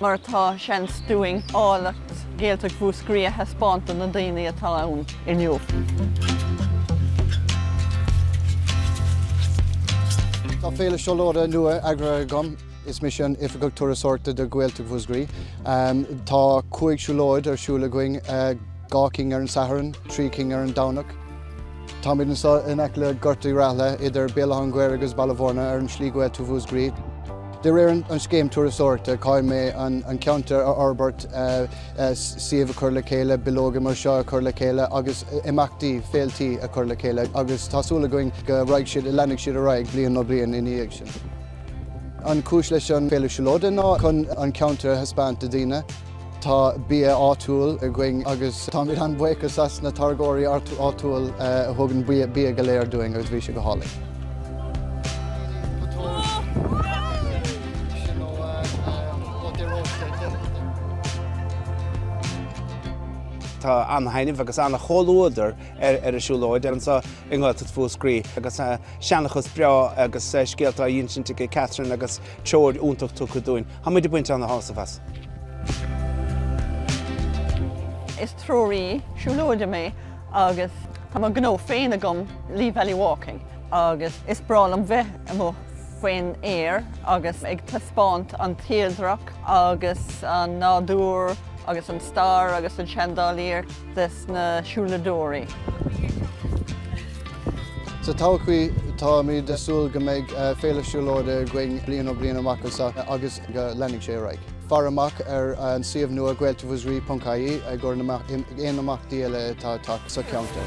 mar atá, seans dúinn áilleacht Ghaeltacht Mhúscraí a thaispeáint do na daoine atá ann inniu. Tá Féile Siúlóide nua eagraithe agam. Is mise an Oifigeach Turasóireachta do Ghaeltacht Mhúscraí. Tá cúig siúlóid ar siúl againn, eh, dhá cinn ar an Satharn, trí cinn ar an Domhnach. Táimid anseo in aice le Gort Uí Raithile idir Béal Átha an Ghaorthaidh agus Baile Bhúirne ar an Slí Ghaeltacht Mhúscraí. De réir an Scéim Turasóireachta, caithfidh mé an ceantar a fhorbairt, suíomh a chur le chéile, bileoga mar seo a chur le chéile agus imeachtaí, féiltí a chur le chéile agus tá súil againn go raghaidh siad, leanfaidh siad ar aghaidh bliain ó bliain ina dhiaidh sin. An chúis leis an Féile Siúlóide ná chun an ceantar a thaispeáint do dhaoine. Tá bia áitiúil againn agus táimid an-bhuíoch as na táirgeoirí áitiúil a thug an bia go léir dúinn agus bhí sé go hálainn. Tá ana-thaitneamh agus ana-chomhluadar ar an siúlóid anseo i nGaeltacht Mhúscraí agus seanchas breá agus scéalta á insint ag Catherine agus treoir iontach tugtha dúinn. Táimid ag baint ana-shásamh as. Is treoraí siúlóide mé agus tá mo gnó féin agam Lee Valley Walking agus is breá liom bheith amuigh faoin aer agus ag taispeáint an tírdreach agus an nádúr agus an stair agus an seandálaíocht. des na siúladóirí. Sa todhchaí, táimid ag súil go mbeidh Féile Siúlóide againn bliain ó bliain amach anseo agus go leanfaidh sé ar aghaidh. Fair amach ar an suíomh nua gaeltachtmhuscrai.ie i gcomhair aon imeachtaí eile atá ag teacht sa cheantar.